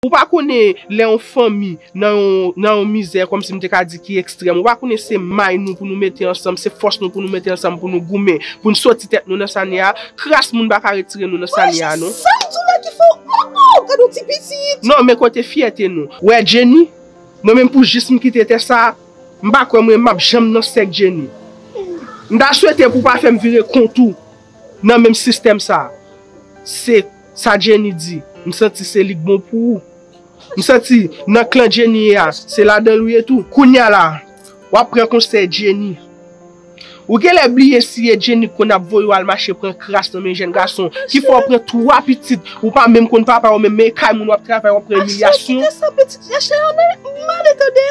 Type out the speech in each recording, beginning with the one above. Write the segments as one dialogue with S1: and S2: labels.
S1: Ou pa konnen lè yon fanmi nan yon nan yon mizè kòm si m te ka di ki ekstrèm, ou pa konnen se may nou pou nou mete ansanm, se fòs nou pou nou mete ansanm pou nou goumen, pou n soti tèt nou nan sa n ye a. Kras moun pa ka retire nou nan sa n ye a non. Wèl Jacques,
S2: sa w di w la ki fè w oh oh, gad yon ti pitit. Non, men kote fyète
S1: nou. Wè Jenny, mwen menm pou jis m kite tè sa a, m pa kwè mwen m ap janm nan sèk Jenny. M ta swete pou w pa fè m vire kont ou nan menm sistèm sa a. Se. Sa Jenny di, m santi se li k bon pou ou. M santi nan klan Jenny ye a, se ladan l ou ye tou. Kounya la, w ap pran konsèy Jenny. Ou genlè bliye si e Jenny k konn ap voye w al mache pran kras nan men jèn gason, ki fè w pran 3 pitit, ou pa menm konn papa yo menm, men e kay moun w ap travay w ap pran imilyasyon. Aksè, kite sa pitit Rachel
S2: la, m ale tande.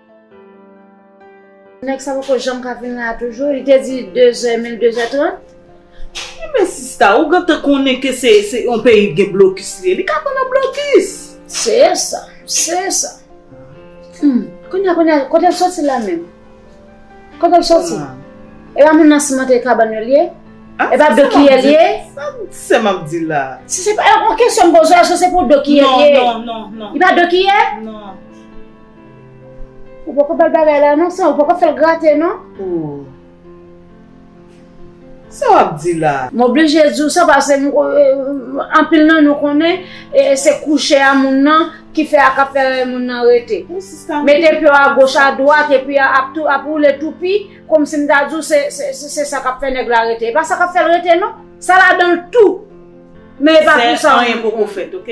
S3: Nèg sa poko janm ka vin la toujou, li te di 2 zè e menl 2 zè 30. Men
S2: sista ou gentan konnen ke se yon peyi ki gen blokis li ye, li ka pa nan blokis. Se sa,
S3: se sa. Humm, kounya kounya kotel soti la menm? Kotel soti? E pa moun nan simante kabann yo li ye? E pa do kiyè li ye? Sa sèm ap
S2: di la? Si se pa, yon kesyon
S3: m poze a eske se pou do kiyè li ye? Non, non, non, non. Li pa do
S2: kiyè? Non.
S3: Ou poko bal bagay la non san ou poko fèl grate non.
S2: Ooh Sa wap di la. M oblije di w sa
S3: pase anpil nan nou konnen se kouche a moun nan ki fè a kap fè moun nan rete. Mete pyo a goch a dwat epi ap woule toupi komsi m ta di w se sa kap fè nèg la rete. E pa sa kap fè l rete non. Sa ladan l tou. Men e pa pou sa. Anyen poko fèt ok.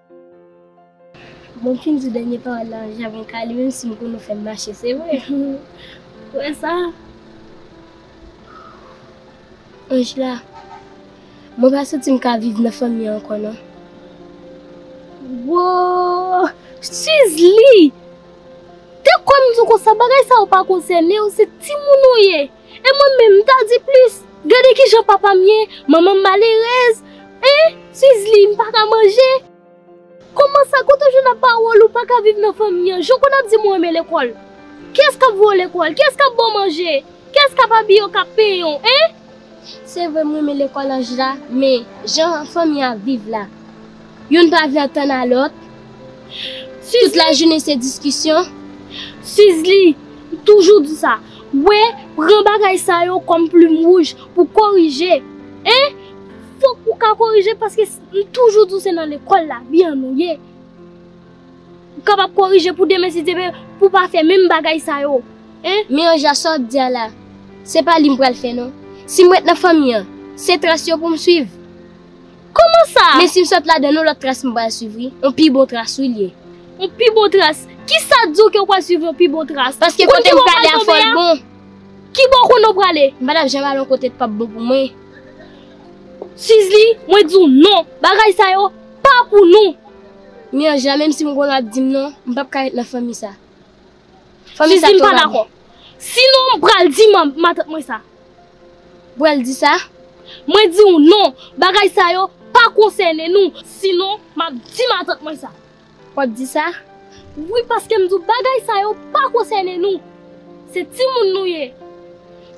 S4: Bon m fin di dènye pawòl la an javon kale menm si m konnen w fè m mache se vre Ou wè sa Angela Mwen pa santi m ka viv nan fanmi an ankò non Woo Suze li Te kwè m di w konsa bagay sa yo pa konsène w se timoun ou ye. E mwen menm, m ta di plis, Gade ki jan papa m ye, manman m malerèz. Eh, Suizli, m pa ka manje. Kòman sa, kote w jwenn ak pawòl ou pa ka viv nan fanmi an? Jan w konn ap di m ou renmen lekòl. Kiyès k ap voye w lekòl? Kiyès k ap ba w manje? Kiyès k ap abiye w, k ap penyen w? Eh! Se vre m renmen lekòl Anjela, men jan fanmi an ap viv la. Youn pa vle antann a lòt. Tout lajounen se diskisyon. Sizli, M toujou di sa. Wè, pran bagay sa yo kòm plim wouj pou korije. E, fòk ou ka korije paske m toujou di w se nan lekòl lavi an nou ye. Ou kapab korije pou demen si Dye vle pou w pa fè menm bagay sa yo. E. Men Anja, sa w ap di a la, se pa li m pral fè non. Si m ret nan fanmi an, se tras yo pou m swiv. Koman sa? Men sim sot ladann yon lòt tras m pral swiv wi, yon pi bon tras wi l ye. Yon pi bon tras? Kisa di w ke w pral swiv yon pi bon tras? Paske kote m prale a fòl bon. Kibò w konnen w prale? M pa tap janm al yon kote k pap bon pou mwen. Sizli, mwen di w non, bagay sa yo pa pou nou. Mianj la menm si m konnen w ap di m non, m pap ka ret nan fanmi sa. Fanmi sa tro bab. Si non m pral di matant mwen sa. Bwèl di sa. Mwen di ou non, bagay sa yo pa konsène nou. Si non m ap di matant mwen sa. W ap di sa. Wi paske m di ou bagay sa yo pa konsène nou. Se timoun nou ye.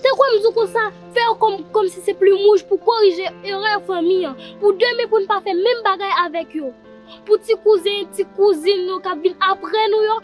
S4: Te kwè m di ou konsa, fè yo kòm si se plim wouj pou korije erè fanmi an. Pou demen pou n pa fè menm bagay avèk yo. Pou ti kouzen, ti kouzin nou k ap vin apre nou yo.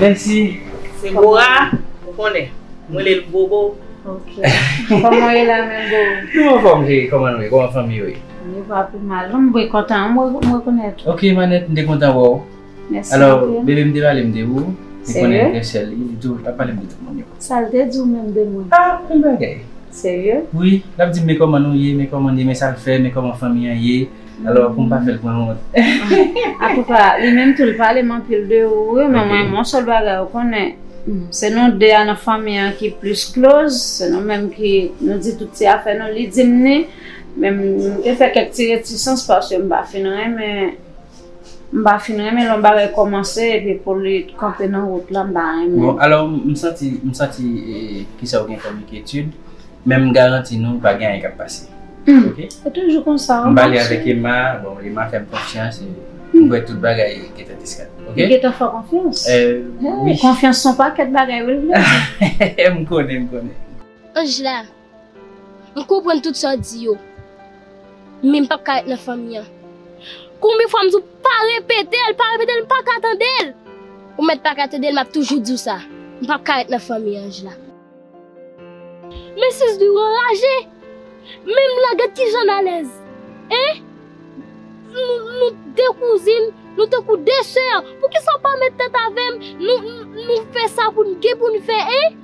S2: Menm si
S5: se Bora
S2: ou konnen m rele l Bobo. Ok.
S3: Kòman w ye la menm Bobo? M anfòm cheri, kòman nou ye?
S5: Kòman fanmi yo ye? Yo pa pi mal
S3: non. M byen kontan w rekonèt ou. Ok Manèt, m te kontan
S5: wè w. Mèsi anpil. Alò,
S3: bebe m te
S5: pale m de
S3: ou.
S5: Serye? Li konnen vrè sè l li. Li
S3: di w
S5: li pa pale m de tout moun yo. Sa l te di w menm de
S3: mwen? Ah, bèl bagay.
S5: Serye? Wi.
S3: L ap di m men
S5: kòman nou ye, men kòman n ye, men sa l fè, men kòman fanmi an ye. Alò pou m pa fè l pran wont. Atouka,
S3: li menm tou li pale m anpil de ou wi, men mwen yon sèl bagay ou konnen, se nou de a nan fanmi an ki plis kloz, se nou menm ki nou di tout ti afè nou, li di m ni, men m te fè kèk ti retisans paske m pa fin renmen, m pa fin renmen lè yon bagay kòmanse epi pou li kanpe nan wout la m pa renmen. Bon, alò
S5: m santi, m santi, kisa ou gen kòm enkyetid, Men m garanti nou pa gen anyen kap pase ok. Se toujou konsa
S3: an. M pale avèk Emma,
S5: bon Emma fèm konfyans e m kwè tout bagay gentan diskad ok. Li gentan fè w konfyans?
S3: Wi.
S5: Konfyans son pakèt
S3: bagay wi m konnen. M
S5: konnen m konnen. Angela,
S4: m konprann tout sa w di yo men m pap ka ret nan fanmi an. Konbyen fwa m di w pa repete l, pa repete l m paka tande l. Ou mèt paka tande l map toujou di w sa. M pap ka ret nan fanmi an Angela. Mesye Zwi anraje! Menm la gad kijan n alèz! Hein! Nou de kouzin, nou tankou de sè, poukisa w pa met tèt avè m, nou fè sa pou n gen pou n fè, hein!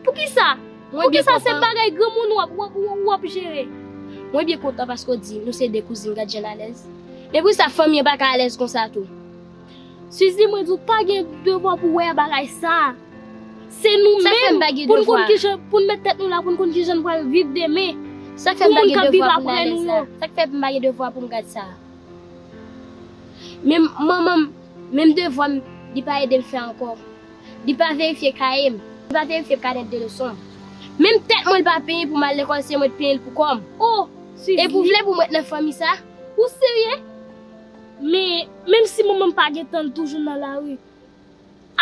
S4: Poukisa? Poukisa se bagay granmoun w ap jere? Mwen byen kontan paske w di nou se de kouzin, gad jan n alèz! Men poukisa fanmi an pa ka alèz konsa tou? Suzy mwen di w pa gen devwa pou wè bagay sa. Se nou menm pou n konn kijan pou n met tèt nou la pou n konn kijan n pral viv demen. Sa k fè m pa gen devwa pou m ale sa. Sa k fè m pa gen devwa pou m gad sa. Menm manman m, menm devwa m li pa ede m fè ankò. Li pa verifye kaye m, li pa verifye kanèt de leson m. Menm tèt mwen li pa penyen pou m al lekòl se mwen t penyen l pou kò m. Oh Suzy! Epi w vle pou m ret nan fanmi sa? Ou serye? Men, menm si manman m pa gen tan l toujou nan lari.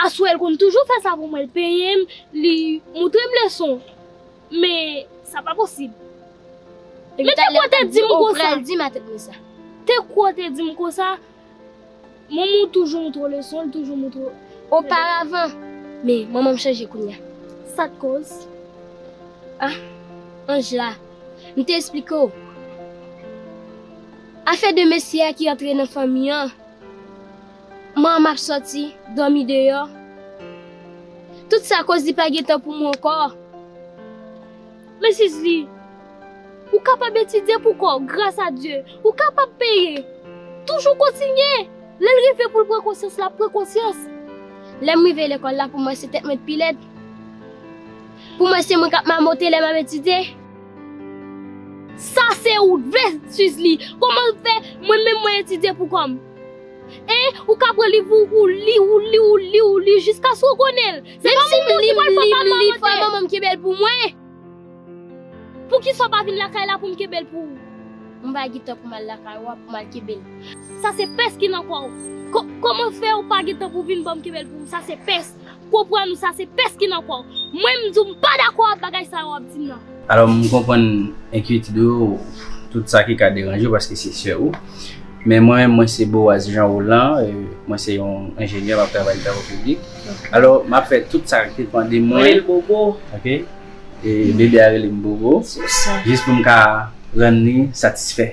S4: Aswè l konn toujou fè sa pou mwen, l penyen m, li montre m leson. Men, sa pa posib. Men te kwè w te di m konsa. Epi talè w t ap di, ou pral di m atèt mwen sa. Te kwè w te di m konsa. Manman w toujou montre w leson, l toujou montre w. Oparavan. Men, manman m chanje kounye a. Sa k koz? Ah, Anjla, m te esplike w. Afè de mesye a ki antre nan fanmi an, man m ap sòti, dòmi deyò. Tout sa akoz li pa gen tan pou mwen ankò. Men sis li, Ou kapab etidye pou kò w, gras a Dye. Ou kapab peye. Toujou kontinye. Lè l rive pou l pran konsyans, l ap pran konsyans. Lè m rive lekòl la, pou mwen se tèt mwen t pi lèd. Pou mwen se mwen k ap mamote lè m ap etidye. Sa se ou t vle swiz li. Koman l fè mwen menm mwen etidye pou kò m. Hein ou ka pran liv ou ou li ou li ou li ou li jiskaske ou konnen l. Se pa moun tou ki pral fè papa an mante. Fè manman m kenbe l pou mwen. Poukisa w pa vin lakay la pou m kenbe l pou ou. Mwen pa gen tan pou m al lakay ou a pou m al kenbe l. Sa se pès ki nan kò w. Koman fè ou pa gen tan pou vin ban m kenbe l pou ou sa se pès. Konprann ou sa se pès ki nan kò w. Mwen m di w m pa dakò ak bagay sa yo w ap di m nan. Alò m konprann
S5: enkyetid ou yo, tout sa ki ka deranje w paske se sè ou. Men mwen menm mwen se Boaz Jean Roland, mwen se yon enjenyè m ap travay nan travo piblik. Alò m ap fè tout sa k depan de mwen. Rele l Bobo. Ok. Bebe a rele m Bobo. Jis pou m ka rann li satisfè.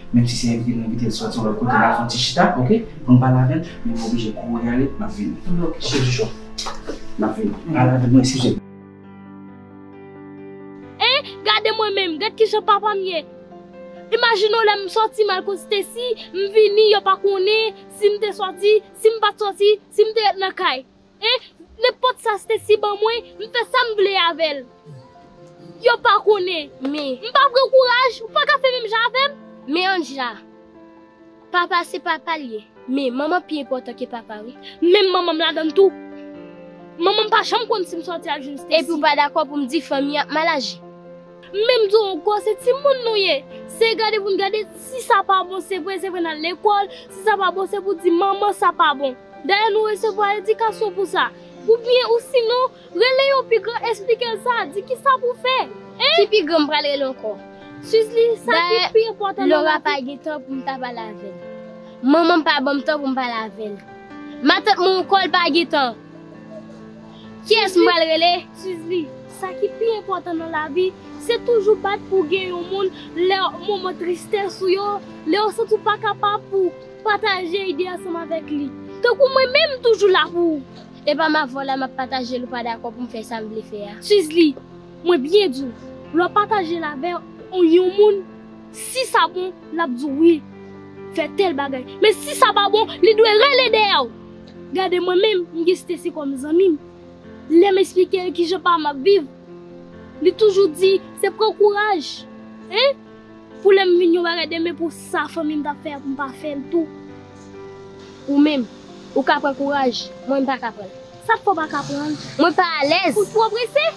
S5: Menm si se envite nou envite l sòti yon lòt kote nal fè yon ti chita ok poun pale avèl men nou oblije kouri ale map vini ok cheri cho map vini pale avèl non eskize m.
S4: Hein gade mwen menm gad kijan papam ye imajine w lèm sòti mal kon Stacy m vini yo pa konnen sim te sòti sim pat sòti sim te ret nan kay Eh nenpòt sa Stacy ban mwen m fè sam vle avèl yo pa konnen m pa pran kouraj ou paka fè menm jan avèm. Men Andja. Papa se papal ye men manman pi enpòtan ke papa wi. Menm manmanm ladann tou. Manmanm pa janm konn sim sòti al jwenn Stacy. Epi ou pa dakò poum di fanmi an ap mal aji. Menm di w ankò se timoun nou ye se gade pou n gade si sa pa bon se vre se vre nal lekòl si sa pa bon se pou di manman sa pa bon. Dayè nou resevwa edikasyon pou sa. Oubyen ou sinon, rele yon pi gran esplike l sa, di ki sa pou fè. Hein? Ki pi gran m pral rele ankò. Suze li sa ki pi enpòtan nan lavi. Dayè, Laura pa gen tan pou m ta pale avè l. Manman m pa ban m tan pou m pale avè l. Matant mwen ankò l pa gen tan. Kiyès m pral rele? Suze li sa ki pi enpòtan nan lavi, se toujou bat pou w gen yon moun lè moman tristès ou yo, lè ou santi w pa kapab pou. Pataje ide ansanm avèk li. Tankou mwen menm m toujou la pou ou. E pa ma vwa la map pataje l ou pa dakò pou m fè sa m vle fè a. Sizli, Mwen byen di w, lè w pataje l avè yon moun, si sa bon, l ap di w wi, fè tèl bagay. Men si sa pa bon, li dwe rele dèyè w. Gade mwen menm, m gen Stesy kòm zanmi m. Lè m esplike l kijan pa m ap viv, li toujou di se pran kouraj. Hein? Pou lè m vin yon bagay demen pou sa fanmi m t ap fè a pou m pa fè l tou. Ou menm, ou ka pran kouraj, mwen m pa ka pran l. Sa k fè w pa ka pran l? Mwen pa alèz. Ou twò prese?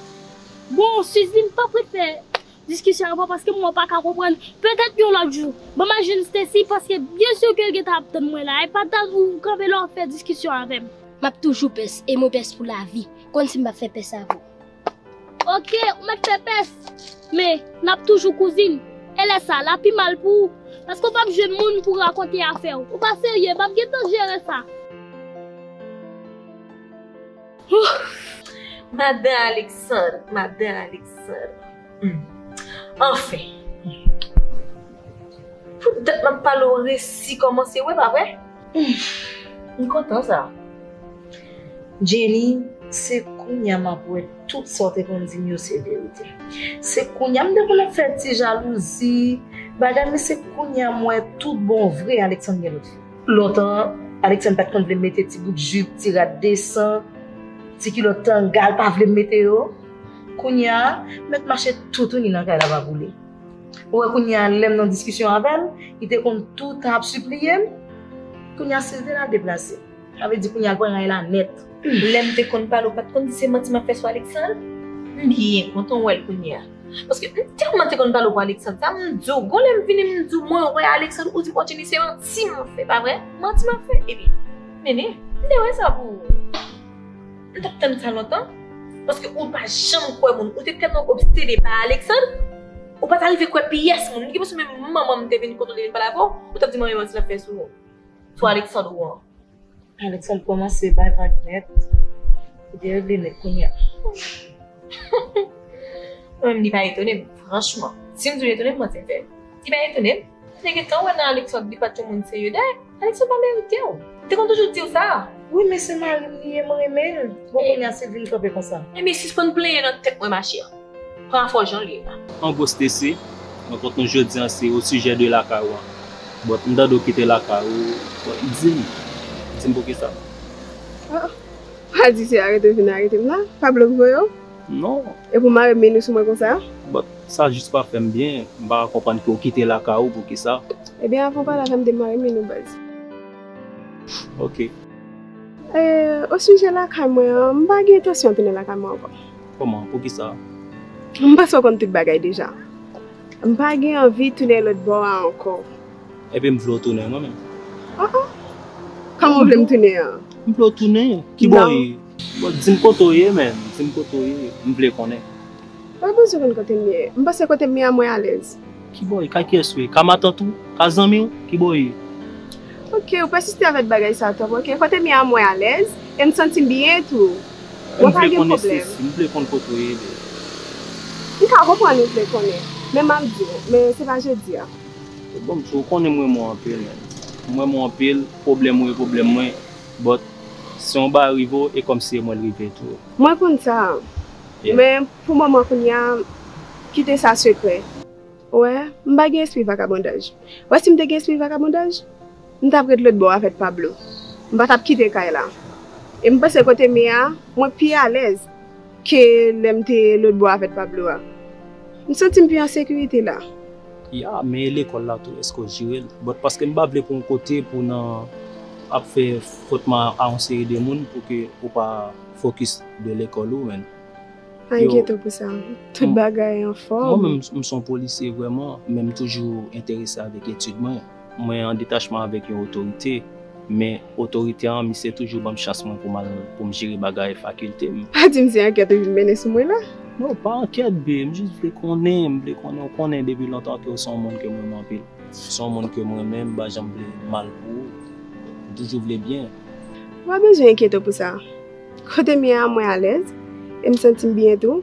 S4: Bon, Sizi, m pap ret fè diskisyon ak ou paske m wè w pa ka konprann. Petèt yon lòt jou. Ban m al jwenn Stesy paske byen si ke l gentan ap tann mwen la. Epatal ou kanpe la w ap fè diskisyon avè m. M ap toujou pès e mwen pès pou lavi. Konn si m pap fè pès avè w. Ok, ou mèt fè pès, men, n ap toujou kouzin. E lè sa, l a pi mal pou ou, paske w pap jwenn moun pou w rakonte afè w. Ou pa serye, m ap gen tan jere sa.
S6: Humm! Madan Aleksandr, madan Aleksandr. Humm! Anfen! Pou dat m ap pale w resi kòmanse wè, pa vre? M kontan sa. Jenny, se kounya map wè tout sa w te konn di m yo se verite. Se kounya m te konn ap fè ti jalouzi, bagay men se kounya m wè tout bon vre Alexandre gen lòt fi. Lontan Alexandre pat konn vle m mete ti bout jupe, ti rad desan, ti kilòt tanga l pa vle m mete yo. Kounya, mèt mache toutouni nan kay la pa boule. Ou wè kounya lèm nan diskisyon avèl li te konn toutan ap sipliyem kounya sil te la deplase sa vle di kounya pran ray la nèt. Lèm te konn pale ou pat konn di se manti map fè sou Alexandre m byen kontan ou wèl kounya paske m tèlman te konn pale ou pou Alexandre sa m diw gon lèm vini m diw mwen wè Alexandre ou di Fortuny se manti map fè pa vre manti map fè epi nene m te wè sa pou ou. M tap tann sa lontan paske ou pa janm kwè moun. Ou te tèlman obsede pa Alexandre, ou pa ta rive kwè pyès moun. M gen presyon menm manman m te vin kote w te vin pale avè w, ou tap di manmi manti l ap fè sou ou, sou Alexandre ou an. Alexandre kòmanse bay vag nèt. Li deregle nèt kounya. Mwen menm li pa etone m, franchman. Si m di l etone m, manti m fè. Li pa etone m. M te gentan wè nan Alexandre li pat yon moun serye dayè Alexandre pa merite w. M te konn toujou diw sa. Wi men se mari m li ye m renmen l bon kounya sil vin kanpe konsa. Ebyen sispann plenyen nan tèt mwen ma chère. Pran afè w jan l ye la. An gwo Stessy,
S7: mwen pot nou jodi an se o sujet de lakay ou an. But m tande w kite lakay ou but di m, di m poukisa? Ahh
S8: pa di se arete w vin arete m la, pa blok voye w? Non. E pou
S7: marim vini
S8: sou mwen konsa? But sa jis
S7: pa fèm byen, m pa ka konprann ke w kite lakay ou poukisa. Ebyen avan w pale avèm
S8: de marim vini nou baz.
S7: Ok. Eh osijè
S8: lakay mwen an, m
S7: pa
S8: gen entansyon tounen lakay mwen
S7: ankò.
S8: Kòman? Poukisa? M panse w konn tout bagay deja. M pa gen anvi tounen lòt bò a ankò. Ebyen m vle
S7: w tounen mwen menm. Ah ah.
S8: Kòman w vle m tounen an? M vle w tounen.
S7: Kibò e? Bon dim kote w ye menm, dim kote w ye, m vle konnen. Ou pa bezwen
S8: konn kote m ye, m panse kote m ye a mwen alèz. Kibò w ye, kay kiyès
S7: ou ye, ka matant ou, ka zanmi w, kibò w ye? Ok,
S8: ou pèsiste avèk bagay sa twòp, ok, kote m ye a mwen alèz, e m santi m byen tou, mwen pa gen
S7: pwoblèm. M vle konn kote w ye menm.
S8: M ka konprann ou vle konnen, men m ap di w, men se pa jodi a. Bon msye,
S7: ou konnen m renmen w anpil menm, m renmen w anpil, pwoblèm ou e pwoblèm mwen. But si yon bagay rive w e kòmsi e mwen l rive tou. Mwen konn sa.
S8: Men pou moman kounye a kite sa sekrè. Ou wè, m pa gen espri vakabondaj. Ou wè si m te gen espri vakabondaj, m tap ret lotbò avèk Pablo. M pa tap kite kay la. E m panse kote m ye a, mwen pi alèz. Ke lè m te lotbò avèt Pablo a. M santi m pi an sekirite la. Ya, men
S7: e lekòl la tou, èske w jire l? But paske m pa vle pou yon kote pou w nan ap fè fot ma a yon seri de moun pou ke ou pa fokis de lekòl ou menn. Pa enkyete
S8: pou sa. Tout bagay anfòm. Mwen menm m s on polisye
S7: vrèman, men m toujou enterese avèk etid mwen. Mwen an detachman avèk yon otorite, men otorite an misye toujou banm chans mwen pou mal poum jere bagay fakilte m. Pa dim se ankèt
S8: ou vin mennen sou mwen la? Non pa ankèt
S7: bee, m jis vle konnen, m vle konnen ou konnen depi lontan ke ou se yon moun kem renmen anpil, ou se yon moun kem renmen m pa janm vle mal pou ou, m toujou vle byen. Ou pa bezwen
S8: enkyete w pou sa. Kotem ye a mwen alèz, e m santim byen tou.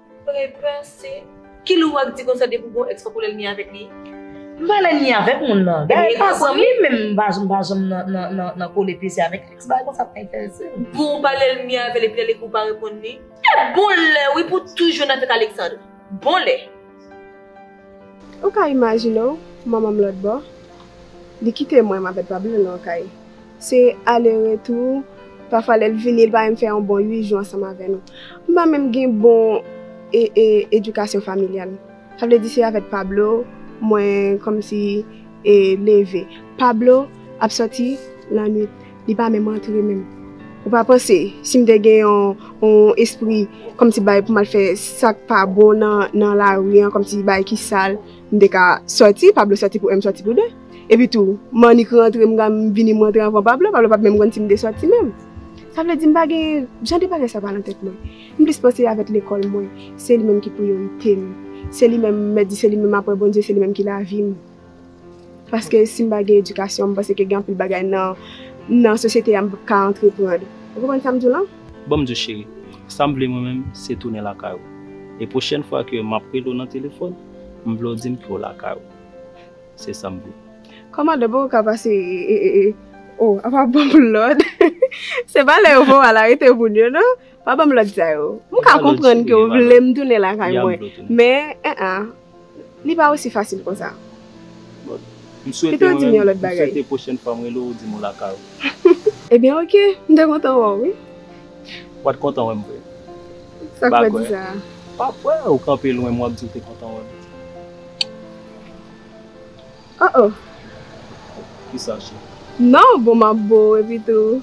S6: Prepase. Ki lou wak di konsa depi w gen yon ex fok ou lèlmi avèk li? M pa lèlmi avèk moun nan. Ebyen e ka zanmi m men m pa janm pa janm nan kole plezi avèk ex bagay konsa pa enterese m. Bon ou pa lèlmi avèl epi lèl ekri w pa reponn li? E bon lè wi pou toujou nan tèt Alexandre. Bon lè.
S8: Ou ka imajine w, manman m lòt bò, li kite mwen, m avè l pa byen lwen kay. Se ale retou, pafwa lè l vini l pa menm fè yon bon 8 jou ansanm avè nou. M pa menm gen bon edikasyon familyal. Sa vle di se avè Pablo mwen kòmsi leve. Pablo ap sòti lannwit. Li pa menm antre menm. Ou pa panse si m te gen yon espri kòmsi bay pou m al fè sa k pa bon nan lari an, kòmsi bagay ki sal, m te ka soti, Pablo soti pou 1 m soti pou 2. Epitou, m annik rantre, m vini m rantre anvan Pablo, Pablo pap menm konn si m te soti menm. Sa vle di m pa gen, jan de bagay sa pa nan tèt mwen. M plis panse avèk lekòl mwen, se li menm ki priyorite m. Se li menm, m mèt di se li menm aprè Bondye, se li menm ki lavi m. Paske si m pa gen edikasyon, m panse ke gen anpil bagay nan sosyete a m p ap ka antreprann. Ou konprann sa m di w lan? Ban m di w cheri,
S7: sa m vle mwen menm se tounen lakay ou. E pwochèn fwa ke m ap rele w nan telefòn, m vle w di m ke w lakay ou. Se sa m vle. Kòmandan, poko ka
S8: pase o, a pa ban m lòd. Se pa lè yo voye w al arete moun yo non. Pa ban m lòd sa yo. M ka konprann ke w vle m tounen lakay mwen. Men, en en. Li pa osi fasil konsa.
S7: Pito di m yon lòt bagay. M swete pwochèn fwa m rele w ou di m ou lakay ou. Ebyen
S8: ok, m ta kontan wè w wi. W pat
S7: kontan wè m vre? Sa
S8: k fè w di sa? Pa kwè ou
S7: kanpe lwen m w ap di w te kontan wè m.
S8: Oh oh.
S7: Kisa cheri? Non bon
S8: map bo ou epi tou.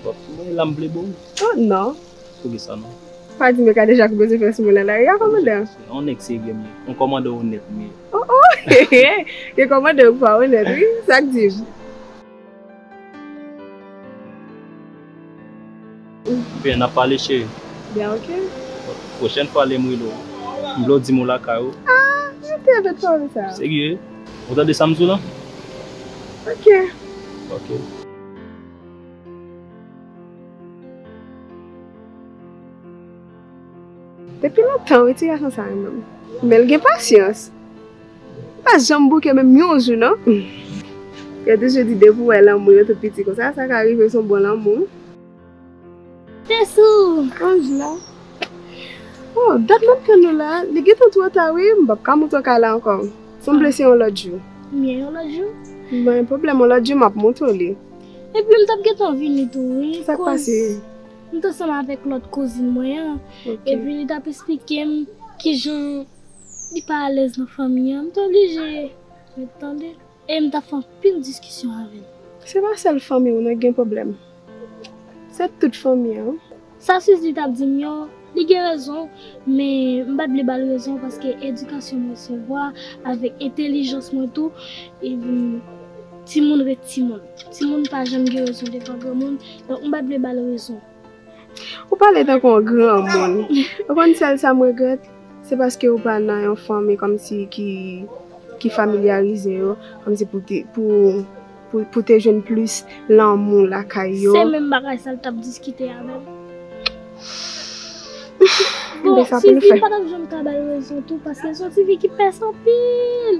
S8: Wap
S7: fouye la m vle bo ou? Oh non.
S8: Poukisa non?
S7: Pa di m yo ka deja
S8: kou bezwen fè sou mwen nan lari a kòmandan. Yon nèg serye m
S7: ye. Yon kòmandan onèt m ye. Oh oh.
S8: Yon kòmandan ou k pa onèt wi. Sak di m?
S7: Oubyen nap pale cheri. Byen
S8: ok. Pwochèn fwa
S7: lem rele w. M vle w dim ou lakay ou. Ah ok
S8: de kòm sa. Serye?
S7: Ou tande sam diw lan? Ok.
S8: Ok. Depi lontan wi ti gason sa renmen m. Men l gen pasyans. Li pa janm bouke menm yon jou nan. Yo toujou di depi w wè lanmou yo tout piti konsa sa ka rive se yon bon lanmou.
S4: Te sou anj la.
S8: Oh dat map tann nou la. Li gentan two ta wi m pap ka moute w kay la anko. Sanble se yon lot jou. Mye yon lot jou.
S4: Mwen pwoblem yon
S8: lot jou map moute w li. Epi m tap
S4: gentan vini tou wi. Sak pase?
S8: M t ansanm
S4: avèk lòt kouzin mwen an epi li tap esplike m kijan li pa alèz nan fanmi an m t oblije ret tande e m tap fè anpil diskisyon avè l. Se pa sèl
S8: fanmi w nan ki gen pwoblèm se tout fanmi an. Sa Suzie tap
S4: di m yo li gen rezon men m pat vle bal rezon paske edikasyon m resevwa avèk entelijans mwen tou. Timoun ret timoun. Timoun pa janm gen rezon devan granmoun, donk m pa t vle ba l rezon. Ou
S8: pale tankou yon granmoun. Ou konn sèl sa m regrèt, se paske ou pa nan yon fanmi kòmsi ki familyarize yo, kòmsi pou w te jwenn plis lanmou lakay yo. Se menm bagay sa l t
S4: ap diskite avè m. Bon, Sifi m pa t ap janm ka ba l rezon tou paske l s on tifi ki pès anpil.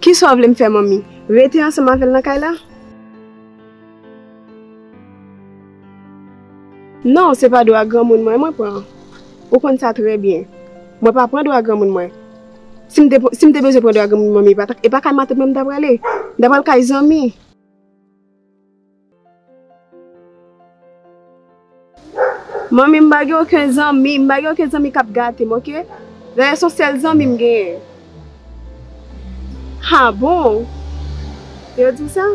S8: Kisa w vle m fè manmi? Rete ansanm avè l nan kay la? Non, se pa dwa granmoun mwen mwen pran. Ou konn sa trè byen. Mwen pa pran dwa granmoun mwen. Si m te, si m te bezwen pran dwa granmoun manmi, e pa kay matant mwen m ta prale. M ta pral kay zanmi. Manmi m pa gen oken zanmi, m pa gen oken zanmi kap gate m ok, Rayè son sèl zanmi m genyen. Ha bon, yo di sa?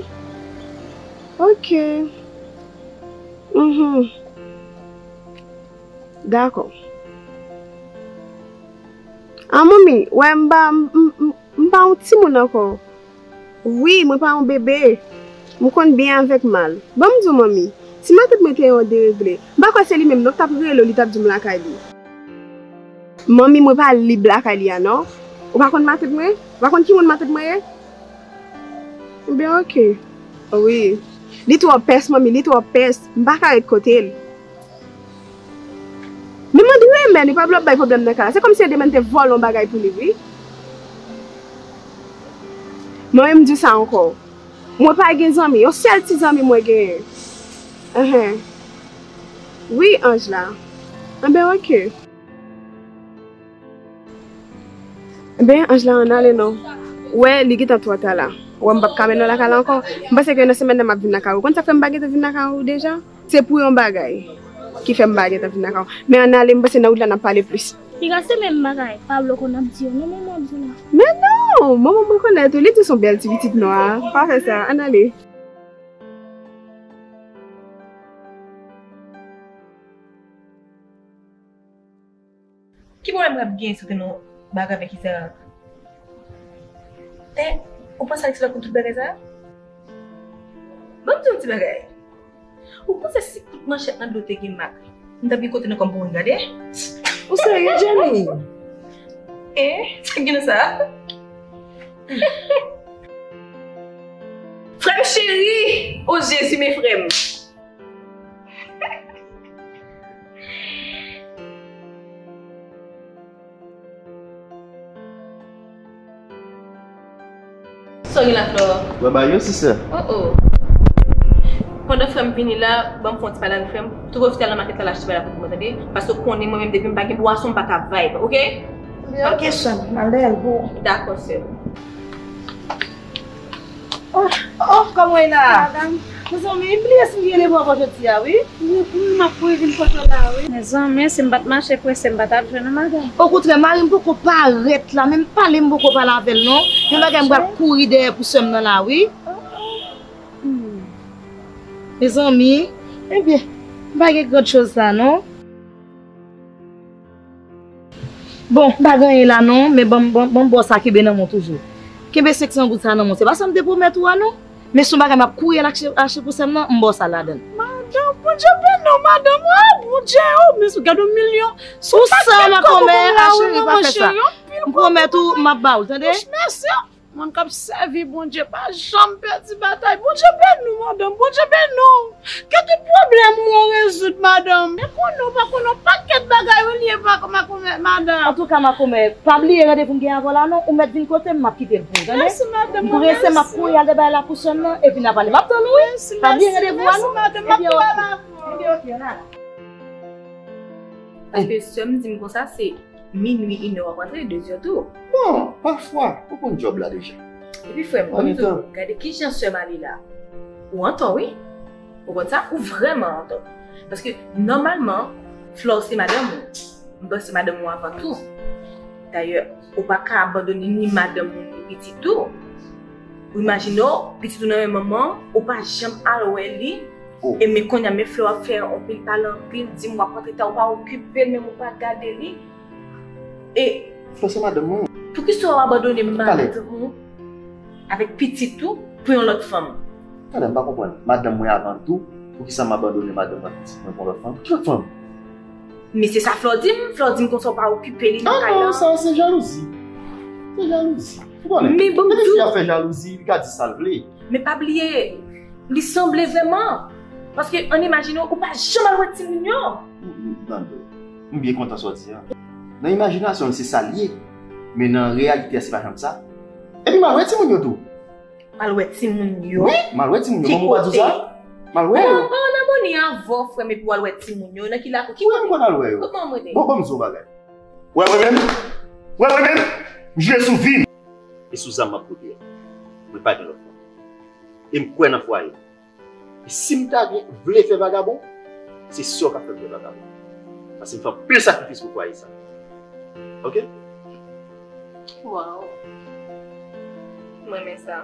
S8: Ok, uhmm, dakò. Ah manmi, wè m pa, m pa yon timoun ankò. Wi, mwen pa yon bebe. M konn byen avèk mal. Ban m di w manmi, si matant mwen te yon deregle, m pa kwè se li menm non k t ap rele w li t ap di w m lakay li. Manmi, mwen pa lib lakay li a non. Ou pa konn matant mwen? Ou pa konn ki moun matant mwen ye? Enben ok. Wi. Li twò pès manmi, li twò pès. M pa ka ret kote l. Liman t renmen li pa vle ap bay problème nan kay la se kòmsi Edemène te vòlè yon bagay pou li wi mwen menm m di w sa ankò mwen pa gen zanmi yon sèl ti zanmi mwen genyen enhen wi ange la enben ok enben ange la ann ale non ou wè li gentan twò ta la ou wè m pap ka mennen w lakay la ankò m panse ke nan semèn nan m ap vin lakay ou ou konn sa k fè m pa gentan vin lakay ou deja. Se pou yon bagay ki fèm pa gentan vin ak a w. Men ann ale m panse nan wout la nap pale plis. Piga se menm bagay
S4: Pablo konn ap di yo non manman ap di la. Men non! Manman
S8: m rekonèt ou, li di w s on bèl ti pitit nwa. Pa fè sa, ann ale.
S6: Ki pwoblèm rap genyen sou tèm Baga men kisa rap e ou panse Alexis la konn tout bagay sa yo? Banm diw ti bagay ou panse si kout manchèt nan do te gen mak nou tap gen kote nou kòm pou moun gade? Ou serye Jenny? E sak gen nan sa? Frèm cheri! O Jezi men frèm! Sori la flor. Mwen ba yo si sè. Oh oh. Pandan frèm vini la, banm fon ti pale avèk frèm. Trouve hospital nan market la lache ti bagay la pou mwen tande. Paske ou konnen mwen menm depi m pa gen bwason m pa ka vibe, ok? Ok
S3: sèm, male al pou ou. Dakò sèm.
S2: Oh kòman e la? Mezanmi m bliye si m gen devwa pou jodi a wi. M ap kouri
S3: vin pote w la wi. Mezanmi si m pa t mache prese m pa ta jwenn ou madanm. Okontrè mari m poko
S2: parèt la menm pale m poko pale avè l non. Yon bagay m pral kouri dèyè pou sè m nan la wi. Mezanmi ebyen m pa gen grande chose la non.
S6: Bon, m pa gen anyen la non, men ban m bon sa kenbe nan men w toujou. Kenbe 500 goud sa nan men w, se pa sa m te pwomèt ou a non, men si w bagay m ap kouri al achte pou sè m nan, m ba w sa ladan l. Madan, Bondye
S2: beni w madan mwen, ah Bondye oo, men sou gad yon milyon, sou sak
S6: 7 kòb ou ban m la oo, non mwen cheri anpil gou. M pwomèt ou m ap ba w l tande. Mèsi.
S2: Moun kap sèvi Bondye pa janm pèdi batay Bondye beniw madanm Bondye beniw ke tout pwoblèm ou yo rezoud madanm. Mwen konnen ou pa konnen yon pakèt bagay wi liye makomè madam. Antouka makomè
S6: pa bliye randevou m gen avèw la non ou mèt vin kote m map kitel pou ou tande m prese
S2: map kouri al
S6: debaye la pou sòn nan epi na pale map tann ou wi pa bliye randevou a non ebyen ok ebyen ok an ale.
S2: Paske
S9: sèm dim konsa se Minwi inè w ap antre dezè tou. Bon, pafwa,
S10: ou konn djòb la deja. Epi frè m, konn
S9: tou, gade kijan sè m ale la. Ou antò wi. Ou konn sa? Ou vrèman antò. Paske, nòmalman, Flore se madanm ou. M panse madanm ou avan tou. Dayè, ou pa ka abandone ni madanm ou ni pitit ou. Ou imajine w, pitit ou nan men manman w, ou pa janm al wè li, e men kounye a men flè w ap fè yon pil pale anpil, di m w ap rantre ta, ou pa okipe l menm ou pa gade li. E. Flè se madanm
S10: mwen. Poukisa ou abandone
S9: madanm ou avèk pitit ou pou yon lòt fanm? Tande, m pa konprann.
S10: Madanm mwen avan tou, poukisa m abandone madanm mwen ak pitit mwen pou yon lòt fanm? Ki lòt fanm? Men se
S9: sa Flore di m, Flore di m konsa ou pa okipe li nan kay lan. Ah non, sa se
S10: jalouzi. Se jalouzi. Ou konnen, Men banm
S9: depi fi a di. fè jalouzi,
S10: li ka di sa l vle. Men pa bliye,
S9: li sanble vrèman. Paske ann imajine ou pa janm al wè timoun yo.
S10: Tande, m byen kontan sa w di an. Nan imajinasyon l se sa l ye, men nan reyalite a se pa janm sa. Epi m al wè timoun yo tou. M al wè timoun
S9: yo? Wi, m al wè timoun yo.
S10: Ki Manman w pa di w kote? sa? M al wè yo. Ou pa ann amoni avan
S9: frè m epi w al wè timoun yo? Nan ki lakou? Ki Wi, m kote? konn al wè yo. Kote manman m
S10: rete? Bon, ban m di w yon
S9: bagay.
S10: Wè mwen menm? Wè mwen menm? M jwe sou vi m. E sou zam m ap pwodui a. Mwen pa gen lòt plan. E m kwè nan fwaye m. E si m ta gen vle fè vagabon, se sè w k ap fè m fè vagabon. Paske m fè anpil sakrifis pou fwaye sa. Ok?
S9: Waww. M renmen sa.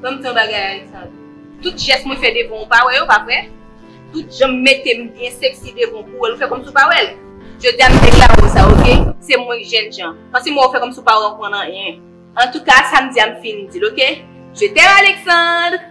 S9: Ban m di yon bagay Alexandre. Tout jès mwen fè devan w ou pa wè yo, pa vre? Tout jan m mete m byen seksi devan w pou w wè l ou fè kòmsi w pa wè l? Jodi a m deklare w sa ok, se mwen k jènjan. Pase m wè w fè kòmsi w pa konprann anyen. Antouka sa m di a m fin di l ok. Je t'aime Alexandre!